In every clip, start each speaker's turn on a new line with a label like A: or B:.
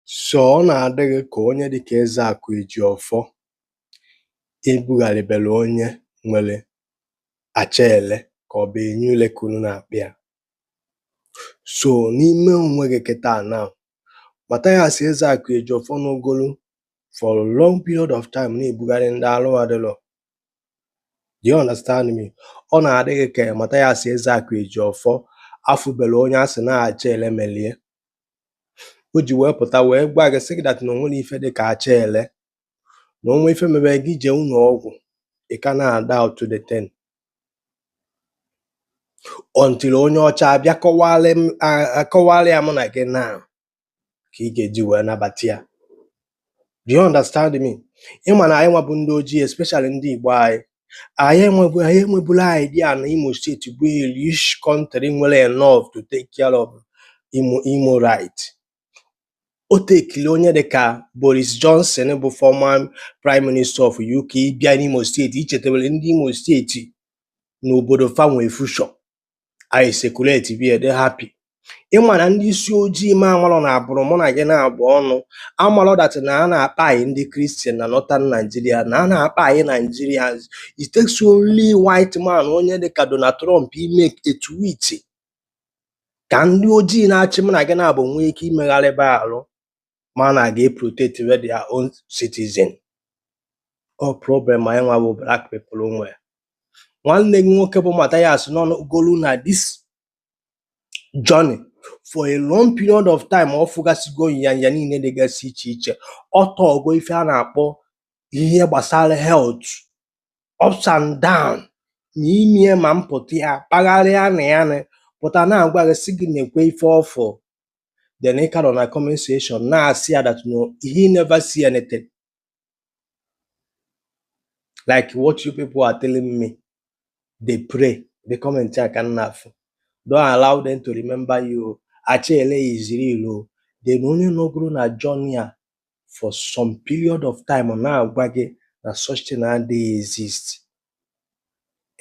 A: So ọ na-adị gị ka onye dị ka Ezeakụ Ejiọfọ ebugharịbere onye nwere acha ele ka ọ bụ enyi ule ka unu na-akpọ ya so n'ime onwe gị kịta na Mathias Ezeakụ Ejiọfọ nọgolu for a long period of time na-ebugharị ndị alụ adịrọ do you understand me ọ na-adị gị ka Mathias Ezeakụ Ejiọfọ afụbere onye a sị na acha ele melie o ji wee pụta wee gwa gị sị gị that na o nwere ife dị ka acha ele na o nwee ife mebe gị jee ụlọ ọgwụ ị ka na-adoubt the thing until onye ọcha abịa kọwalị m- a- akọwalị ya mụ na gị na ka ị ga-eji wee nabata ya do you understand me ịma na anyị nwa bụ ndị ojii especially ndị Igbo anyị anyị enwebu anyị enwebula idea na Imo steeti bụ a rich country nwere enough to take care of Imo Imolite o tekiri onye dịka Boris Johnson bụ former prime minister of UK ịbịa n'Imo steeti ichetewere ndị Imo steeti n'obodo fa nwee future anyị circulate-ibe ya dị happy ịma na ndị isi ojii ma amalọ na abụrụ mụ na gị na-abụ ọnụ amalọ that na a na-akpai ndị Christian na northern Nigeria na a na-akpai Nigerians it takes only white man onye dịka Donald Trump ime a tweet ka ndị ojii na-achị mụ na gị na-abụ nwee ike imegharịba arụ ma na ga protect we their own citizen ọ problem anyị nwa bụ black people nwe nwanne gị nwoke bụ Mathias nọgolu na this journey for a long period of time ọ fụgasịgo nyanya niile dịgasị iche iche ọ tọọgo ife a na-akpọ ihe gbasara health ups and down na imie ma mpụta ya kpagharịa na ya na pụta na-agwa gị sị gị nekwe ife ọ fụ then ị ka nọ na comment section na-asị ya that no he never see anything like what you people are telling me dey play bụ comment a ka m na-afụ don't allow them to remember you acha ele is real o then onye nọgoro na journey a for some period of time ọ na-agwa gị na such thing adịghị exist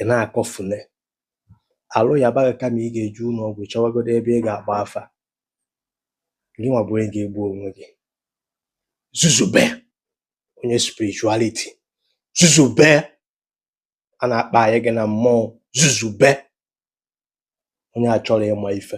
A: ị na-akọfune alụ yaba gị kama ị ga-eje ụlọ ọgwụ chọwagodo ebe ị ga-agba afa gị nwa bụ onye ga-egbu onwe gị zuzube onye spirituality zuzube a na-akpai gị na mmụọ zuzube onye achọrọ ịma ife